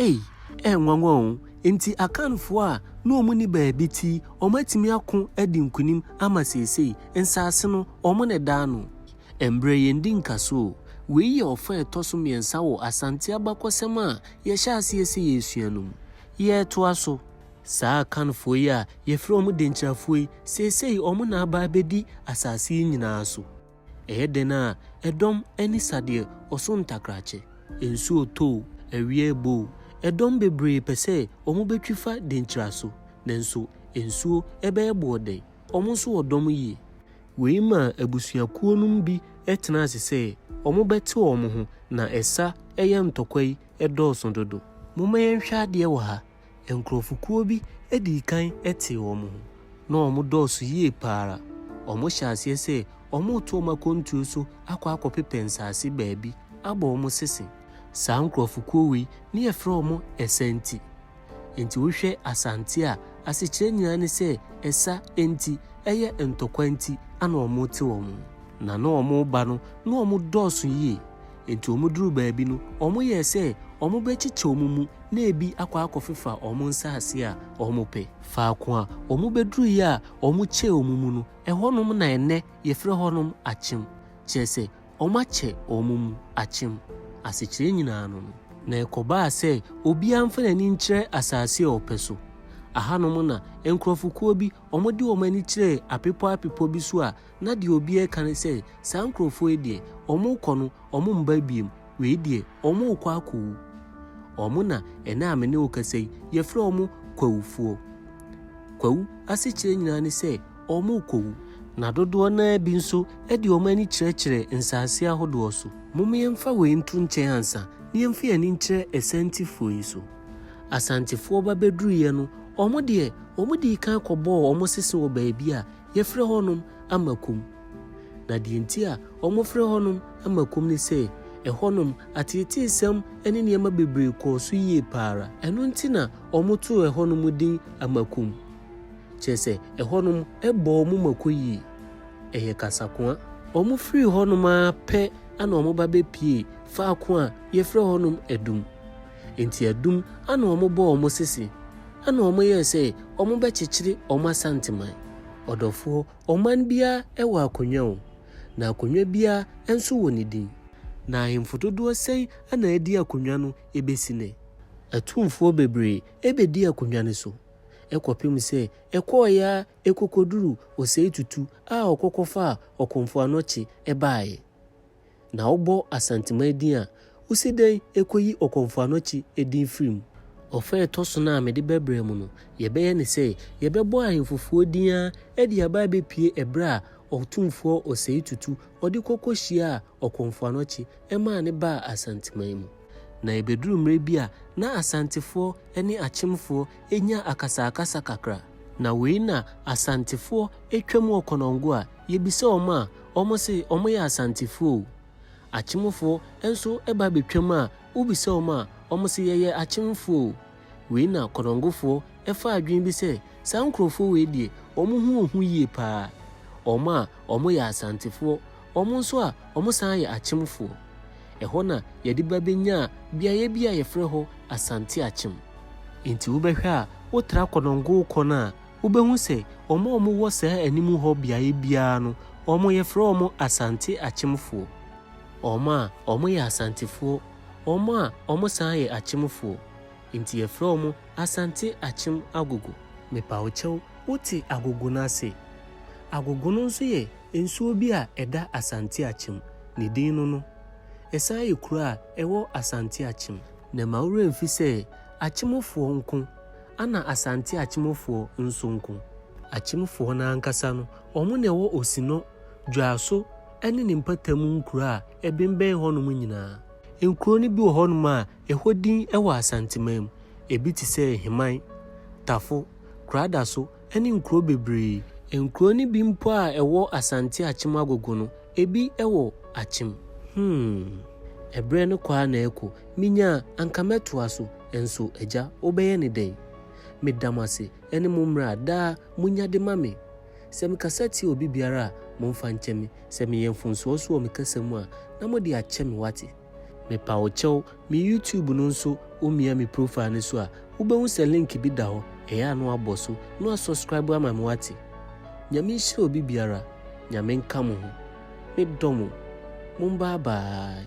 Ei, ɛyɛ nwanwa o! Enti Akanfoɔ a na wɔn nni baabi ti yi, wɔn atumi ako adi nkunim ama seesei, nsaase no, wɔn na ɛdaa no. Ɛmbrɛ yɛn di nkaso o! Wei yɛ ɔfa a ɛtɔ so mmiɛnsa wɔ Asante abakɔsɛm a yɛhyɛ aseɛ sɛ yɛresua no mu. Yɛretoa so. Saa Akanfoɔ yi a yɛfrɛ wɔn Denkyirafoɔ yi, seesei wɔn na aba abɛdi asaase yi nyinaa so. Ɛyɛ dɛn a ɛdɔm ani sa deɛ ɔso ntakrakye. Nsuo tɔ o, awia rebɔ o, ɛdɔm bebree pɛ sɛ wɔbɛtwi fa denkyira so, nanso nsuo bɛyɛ boɔ dɛn? Wɔn nso wɔ dɔm yie. Wei maa abusuakuo nom bi tenaa ase sɛ wɔbɛte wɔn ho, na ɛsa yɛ ntɔkwa yi dɔɔso dodo. Momma yɛnhwɛ adeɛ wɔ ha. Nkurɔfokuo bi dii kan tee wɔn ho, na wɔdɔɔso yie pa ara. Wɔhyɛɛ aseɛ sɛ wɔreto wɔn akwantuo so akɔ akɔpepɛ nsase baabi abɔ wɔn sese. Saa nkurɔfokuo wei na yɛfrɛ wɔn Ɛsa-Nti. Enti wohwɛ Asante a, asekyerɛ nyinaa ne sɛ ɛsa nti, ɛyɛ ntɔkwa nti na wɔte wɔn ho. Na na wɔba no, na wɔdɔɔso yie. Enti wɔduruu baabi no, wɔyɛɛ sɛ wɔbɛkyekyɛ wɔn mu na ebi akɔ akɔfefa wɔn nsase a wɔpɛ. Faako a wɔbɛduruiɛ a wɔkyɛɛ wɔn mu no, ɛhɔnom na ɛnnɛ yɛfrɛ hɔnom Akyem, kyerɛ sɛ, wɔakyɛ wɔn mu Akyem. Asekyerɛ nyinaa no no. Na ɛkɔbaa sɛ obiara mfa n'ani nkyerɛ asase a ɔpɛ so. Ɛhanom na nkurɔfokuo bi wɔde wɔn ani kyerɛɛ apepɔ apepɔ bi so a Na deɛ obiara reka ne sɛ, Saa nkurɔfoɔ yi deɛ, wɔrekɔ no, wɔremma bio, wei deɛ, wɔrekɔ akɔwu. Wɔn na ɛnnɛ a me ne wo kasa yi, yɛfrɛ wɔn kwawufoɔ. Kwawu asekyerɛ nyinaa ne sɛ, wɔrekɔwu. Na dodoɔ no ara bi nso de wɔn ani kyerɛkyerɛ nsase ahodoɔ so. Momma yɛmfa wei nto nkyɛn ansa na yɛmfa yɛn ani nkyerɛ Asantefoɔ yi so. Asantefoɔ ba bɛduruiɛ no, wɔn deɛ, wɔdii kan kɔbɔɔ wɔn sese wɔ baabi a yɛfrɛ hɔnom ama komm. Na deɛ nti a wɔfrɛ hɔnom ama komm ne sɛ, ɛhɔnom ateeteesɛm ne nneɛma bebree kɔɔ so yie pa ara. Ɛno nti na wɔtoo ɛhɔnom din ama komm. Kyerɛ sɛ, ɛhɔnom bɔ wɔn mako yie. Ɛyɛ kasakoa. Wɔfirii hɔnom ara pɛ na wɔba bɛpuee faako a yɛfrɛ hɔnom Adum. Enti adum ana wɔbɔɔ wɔn sese, ɛna wɔyɛɛ sɛ wɔbɛkyekyere wɔn Asanteman. Ɔdɔfoɔ, ɔman biara wɔ akonnwa o, na akonnwa biara nso wɔ ne din. Na ahemfo dodoɔ sɛn na adi akonnwa no bɛsi nnɛ? Atumfoɔ bebree bɛdii akonnwa no so, kɔpem sɛ ɛkɔɔeɛ ara kɔkɔduruu ɔsɛetutu a ɔkɔkɔfaa ɔkomfoɔ anɔkye baeɛ. Na wobɔ Asanteman din a, wosi dɛn koyi Ɔkɔmfoanoakyi din firi mu? Ɔfã a ɛtɔ so no a mede bɛbrɛ mo no, yɛbɛyɛ ne sɛ yɛbɛbɔ ahemfofoɔ din ara de aba abɛpue ɛberɛ a Ɔtumfoɔ Osei-Tutu ɔde kɔ kɔhyiaa Ɔkɔmfoanoakyi ɛmaa no baa Asanteman mu. Na ɛbɛduru mmerɛ bi a na Asantefoɔ ne Akyemfoɔ nya akasaakasa kakra. Na wei na Asantefoɔ twa mu ɔkɔnɔngo a Yɛbisa wɔn a, wɔn se wɔn yɛ Asantefoɔ o. Akyemfoɔ nso ba bɛtwam a, wobisa wɔn a, wɔn se yɛyɛ Akyemfoɔ o. Wei na Konongofoɔ fa adwene bi sɛ saa nkorɔfoɔ wei deɛ wɔn ho wɔ hu yie pa ara. Wɔn a wɔn yɛ Asantefoɔ, wɔn nso a wɔn san yɛ Akyemfoɔ. Ɛhɔ na yɛde ba bɛnyaa beaeɛ bi a yɛfrɛ hɔ Asante Akyem. Nti wobɛhwɛ a, wotra Konongo kɔ no a, Wobɛhu sɛ wɔn a wɔwɔ saa anim hɔ beaeɛ biara no, wɔfrɛ wɔn Asante Akyemfoɔ, wɔn a wɔyɛ Asantefoɔ, wɔn a wɔsan yɛ Akyemfoɔ, nti yɛfrɛ wɔn Asante Akyem Agogo. Mepa wo kyɛw, wote Agogo no ase? Agogo no nso yɛ nsuo bi a ɛda Asante Akyem, ne din no no. Ɛsan yɛ kuro a ɛwɔ Asante Akyem. Na mma wo werɛ mfi sɛ Akyemfoɔ nko Ana Asante akyemfoɔ nso nko? Akyemfoɔ no ankasa no, wɔn na ɛwɔ Osinɔ, Dwoaso ne ne mpatamu nkuro a ɛbembɛn hɔnom nyinaa. Nkuro no bi wɔ hɔnom a ɛhɔ din wɔ Asanteman mu, ebi te sɛ Heman, Tafo, Kuradaso ne nkuro bebree. Nkuro no bi mpo a ɛwɔ Asante Akyem Agogo no, ebi wɔ Akyem. Hmm. Ɛberɛ no kɔ ara na ɛrekɔ. Menya a, anka mɛtoa so. Nso, Agya, wobɛyɛ no dɛn? Meda mo ase. Ɛne mo mmara a daa monya de ma me. Sɛ mekasa tia obi biara a, momfa nkyɛ me. Sɛ meyɛ mfomsoɔ nso wɔ me kasa mu a, na mode akyɛ me, woate? Mepa wo kyɛw me YouTube no nso wo mia me profile no so a wo bɛ hu sɛ link bi da hɔ ɛyɛ a na wabɔ so na wa subscribe ama me wate? Nyame nhyira obi biara, Nyame nka mo ho. Me dɔ mo. Mo mba abaa.